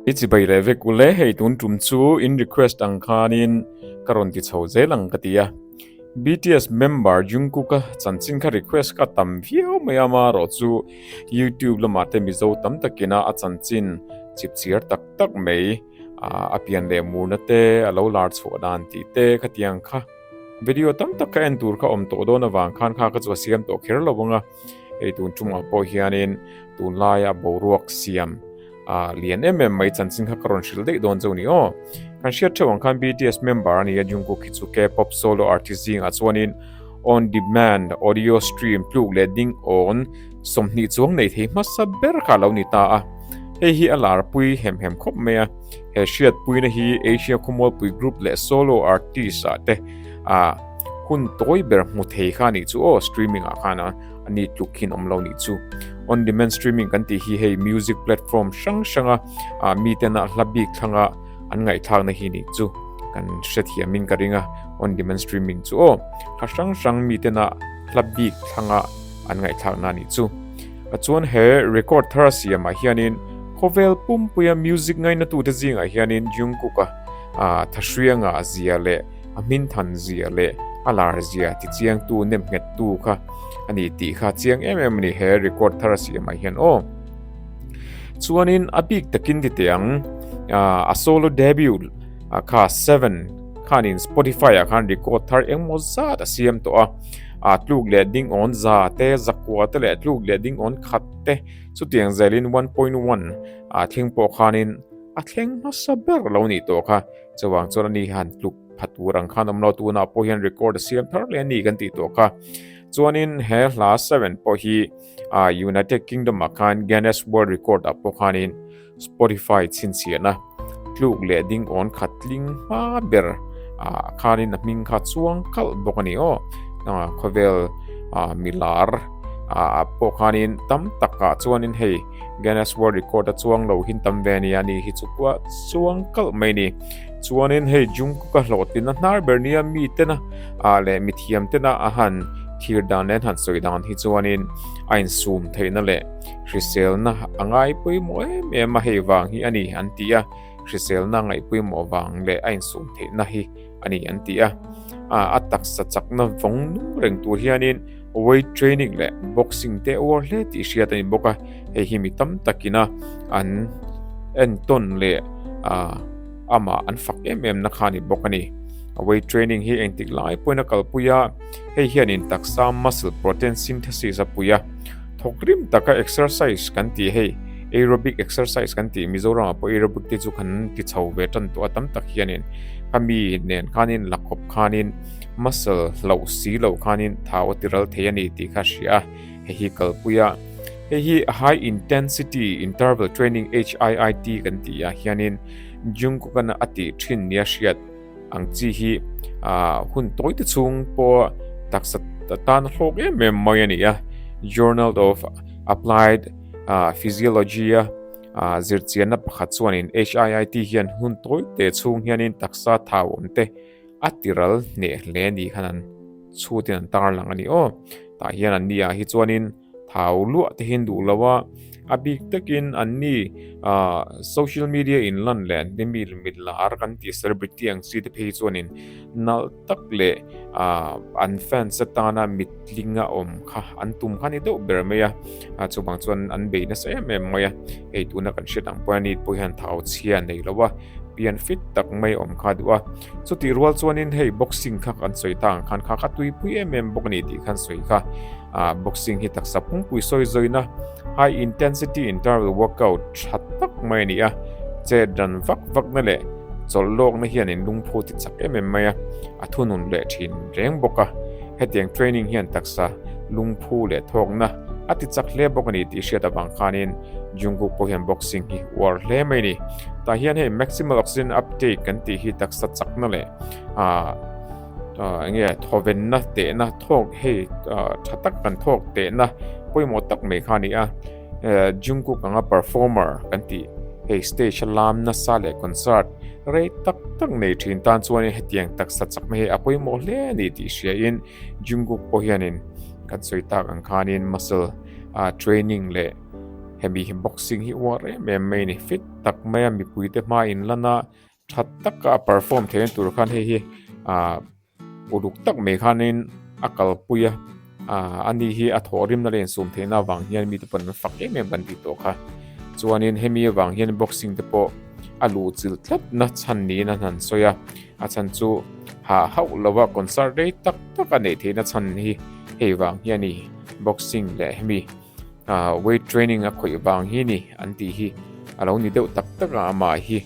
I chi bai leh vek ule hei tun tum chu in request ang khanin ka rawn ti chho zel ang ka ti a. BTS member Jungkook a chanchin kha request ka tam viau mai a ma rawh chu YouTube lamah te mizo tam takin a chanchin chip chhiar tak tak mai a pian leh murna te a lo lar chhuah dan tih te khatiang kha video tam tak kha en tur kha awm tawh dawn avang khan kha ka chu a siam tawh kher lo ang a. Hei tun chungah pawh hianin tunlaia boruak siam a lian em em mai chanchin kha ka rawn hrilh daih dawn chu ni aw. Kan hriat theuh ang khan BTS member a ni a Jungkook hi chu K-pop solo artist zingah chuanin on demand audio stream tluk leh ding awn sawmhnih chuang nei thei hmasa ber kha lo ni ta a. Hei hi a larpui hem hem khawp mai a. He hriatpuina hi Asia khawmualpui group leh solo artist ah te a hun tawi ber hmu thei kha nih chu aw streaming ah khan a ni tluk khin awm lo nih chu on demand streaming kan tih hi hei music platform hrang hrang a ah, mi ten a hla bik thlanga an ngai thlak na hi nih chu kan hre thiam in ka ringa on demand streaming chu aw hla hrang hrang mi ten a hla bik thlanga an ngai thlak na nih chu a chuan he record thara siam ah hianin khawvel pumpuia music ngaina tu te zingah hianin jungkook a ah, thahrianga zia leh a hmin than zia leh a lar zia ti chiang tu nem nghet tu kha a ni tih kha chiang em em a ni he record thar a siam ah hian aw chuan in a bik tak in ti teh ang a solo debut a kha seven khan in spotify a khan record thar eng maw zat a siam to a a tluk leh ding on za te zakua te leh tluk leh ding on khat te chu tiang zel in one point one a thing pawh khan in a thleng hmasa ber lo ni tawh kha Chuvang chuan ani hian tluk phat tur ang khan awmlo tunah pawh hian record a siam thar le ani kan tih tawh kha chuanin he hla seven pawh hi United Kingdom a khan Guinness World Record a pawh khanin Spotify chhinchiana tluk leh ding on khat tling hma ber a khanin a hming kha chuang kal bawk ani aw khovel milar a pawh khanin tam taka chuanin hei Guinness World Record a chuang lo hin tam ve nia ni hi chu kua chuang kalh mai ni chuanin hei Jungkook a hlawh tlin a hnar ber nia mi tena a le mi thiam tena a han thir dan leh han sawi dan hi chuanin a in sum theihna leh hriselna a ngai pawimawh em em a hei vang hi a ni an ti a hriselna a ngaih pawimawh vang leh a in sum theihna hi ani an ti a a taksa chakna vawng nung reng tur hianin weight training leh boxing te a awrh hle tih hriat a ni bawk a hei hi mi tam takina an en tawn leh ah amah an fak em em na kha a ni bawk a ni weight training hi engtik lai pawhin a kalpui a hei hianin taksa muscle protein synthesis a pui a. Thawk rim taka exercise kan tih hei aerobic exercise kan tih Mizoram ah pawh aerobic te chu kan ti chho ve tan tawh a tam tak hianin kami nen khanin la khawp khanin muscle hlauh si lo khanin thau a ti ral thei a ni tih kha hria hei hi kalpui a hei hi high intensity interval training HIIT kan tih ah hianin Jungkook-a a tih thin nia hriat Ang chi hi hun tawi te chung pawh taksa tan hlawk em em mai a ni a. Journal of Applied Physiology-a zirchianna pakhat chuanin HIIT hian hun tawi te chung hianin taksa thau awm te a tiral hneh hle a nih khan an chhutin an tarlang a ni aw. Tah hian an nia hi chuanin Thau luah te hi'n duh lo a, a bik takin an ni social media in lan leh an ni mi mitlar kan tih celebrity ang chi te phei hi chuan in nal tak leh an fans atana mitling a awm kha an tum kha ni deuh ber mai a, chuvang chuan an bei nasa em em mai a, hei tuna kan hriat ang pawhin a ni pawh hian thau chhia a nei lo a. pian fit tak mai awm kha duh a, chutih rual chuanin hei boxing kha kan sawi ta ang khan kha ka tuipui em em bawk a ni tih khan sawi kha ah boxing hi taksa phungpui sawi zawina high intensity interval workout tha tak mai a ni a che dan vak vak na leh chawlh lawk na hian in lungphu ti chak em em mai a a thu nun leh thin reng bawk a hetiang training hian taksa lungphu leh thawk na a ti chak hle bawk a ni tih hriat avang khanin Jungkook pawh hian boxing hi uar hle mai ni. Tah hian hei maximal oxygen uptake kan tih hi taksa chakna leh ah ah enge thawvenna tehna thawk hei ah tha tak kan thawk tehna pawimawh tak mai kha a ni a. Eh Jungkook anga performer kan tih hei stage a lam nasa leh concert rei tak tak nei thin tan chuan in hetiang taksa chakna hi a pawimawh hle a ni tih hriain Jungkook pawh hianin kan sawi tak ang khanin muscle ah training leh-- hemi hi boxing hi uar em em mai ni fit tak mai a mipui te hma in lan a tha tak a perform theih na tur khan hei hi ah uluk tak mai khan in a kal pui a ah a ni hi a thawh rim na len sum theih na vang hian mite pawn an fak em em kan tih tawh kha chuan in hemi avang hian boxing te pawh a lu chil tlat na chhan niin a han sawi a a chhan chu ha hauh lova concert rei tak tak a nei theih na chhan hi hei vang hian ni boxing leh hemi Weight training a khawih vang hi ni an tih hi a lo ni deuh tak tak a, amah hi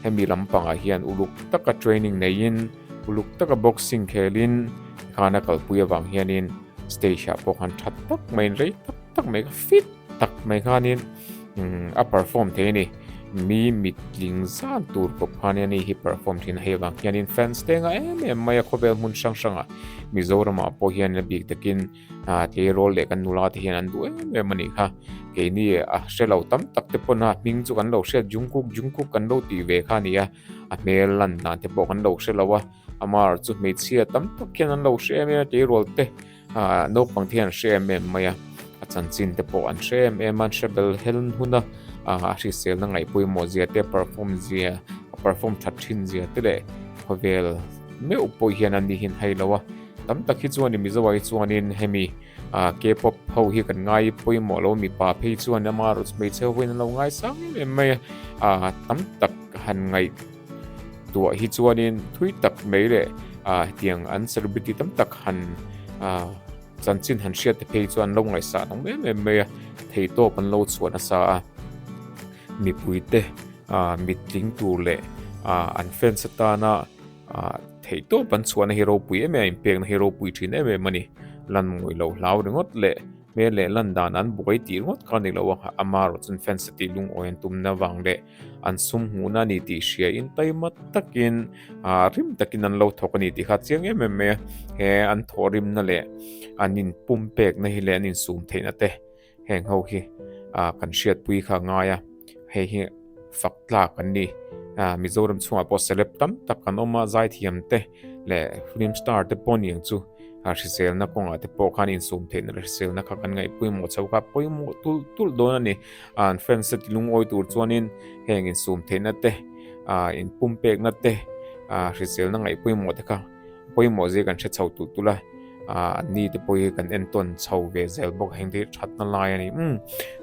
hemi lam pangah hian uluk taka training neiin uluk taka boxing khelin khana kalpui avang hianin stage ah pawh khan tha tak mai rei tak tak mai kha fit tak mai khanin a perform thei a ni. Mi mitling zan tur pawh khan ani hi perform thin hei avang hianin fans te anga em em maia khawvel hmun hrang hrangah Mizoramah pawh hian a bik takin a tlei rawl leh kan nula te hian an duh em em a nih kha keini a hre lo tam tak te pawn a hming chu kan lo hriat Jungkook Jungkook kan lo tih ve kha a ni a a hmel lan dan te pawh kan lo hre lo a amar chu hmeichhia tam tak hian an lo hre em em a tlei rawl te a naupang te hian an hre em em mai a a chanchin te pawh an hre em em a an hre bel hel hun a a hrisel na ngai pawimawh zia te perform zia perform that thin zia te leh khawvel meuh pawh hian an nih hin hai lo a Tam tak hi chuan i Mizo ai chuanin hemi K-pop ho hi kan ngai pawimawh lo mipa phei chuan ama rut hmeichhe ho hian an lo ngai sang em em mai a tam tak han ngaih tuah hi chuanin thui tak mai leh tiang an celebrity tam tak han chanchin han hriat te phei chuan lo ngaih sah nung em em mai a thei tawp an lo chhuah nasa a mipui te mittling tur leh an fans atana Ah, theih tawp kan chhuahna hi ropui em em a inpekna hi ropui thin em em a ni. Lan ngawih lo hlau ringawt leh hmel leh lan dan an buai tih ringawt kha ni lo a, a ama erawh chuan fence a tih lungawi an tumna vang leh an sum hmuhna a ni tih hriain taima takin ah hrim takin an lo thawk a ni tih kha a chiang em em mai a. He an thawhrimna leh an inpumpekna hi leh an insum theihna te. Heng ho hi kan hriatpui kha a ngai a, hei hi fak tlak an ni. Mizoram chhungah pawh celeb tam tak an awm a, zaithiam te leh film star te pawh ning chu hriselna kawngah te pawh khan insum theihna leh hriselna kha kan ngaih pawimawh chauh kha pawimawh tulh tulh dawn a ni. An fans te lungawi tur chuanin heng insum theihna te, inpumpekna te, hriselna ngaih pawimawh te kha. pawimawh zia kan hre chho tûl tûl a, ah an ni te pawh hi kan entawn chho ve zel bawk a, heng te hi ṭhatna lai a ni. Umm,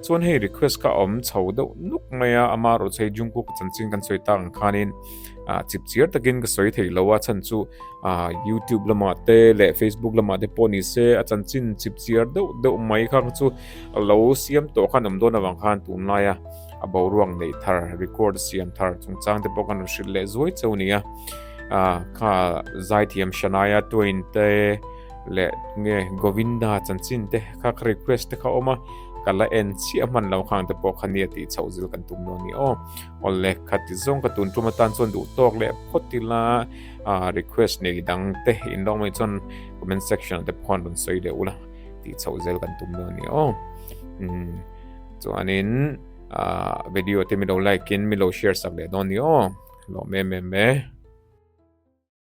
chuan hei request kha a awm chho deuh nuk mai a, ama ruh chei Jungkook a chanchin kan sawi ta ang khanin ah chip chiar takin ka sawi thei lo a, chhan chu ah YouTube lamah te leh Facebook lamah te pawh nise a chanchin chip chiar deuh deuh mai kha chu a lo siam tawh khan awm dawn avang khan tunlai a, a boruak neih thar record siam thar chungchang te pawh ka rawn hrilh leh zuai chauh nia a kha zaithiam shanaya twin te le nge govinda chanchin te kha ka request te kha oma kala en chi a man lo khang te pawh kha nia ti chauh zil kan tum lo ni o ol le kha ti zong ka tun tuma tan chuan duh tawk le photila a request nei dang te in long mai chuan comment section te phone rawn sawi leh ula ti chauh zel kan tum lo ni o chuanin ah video te milo like in milo share sak leh dawn ni aw hlawh mem em e.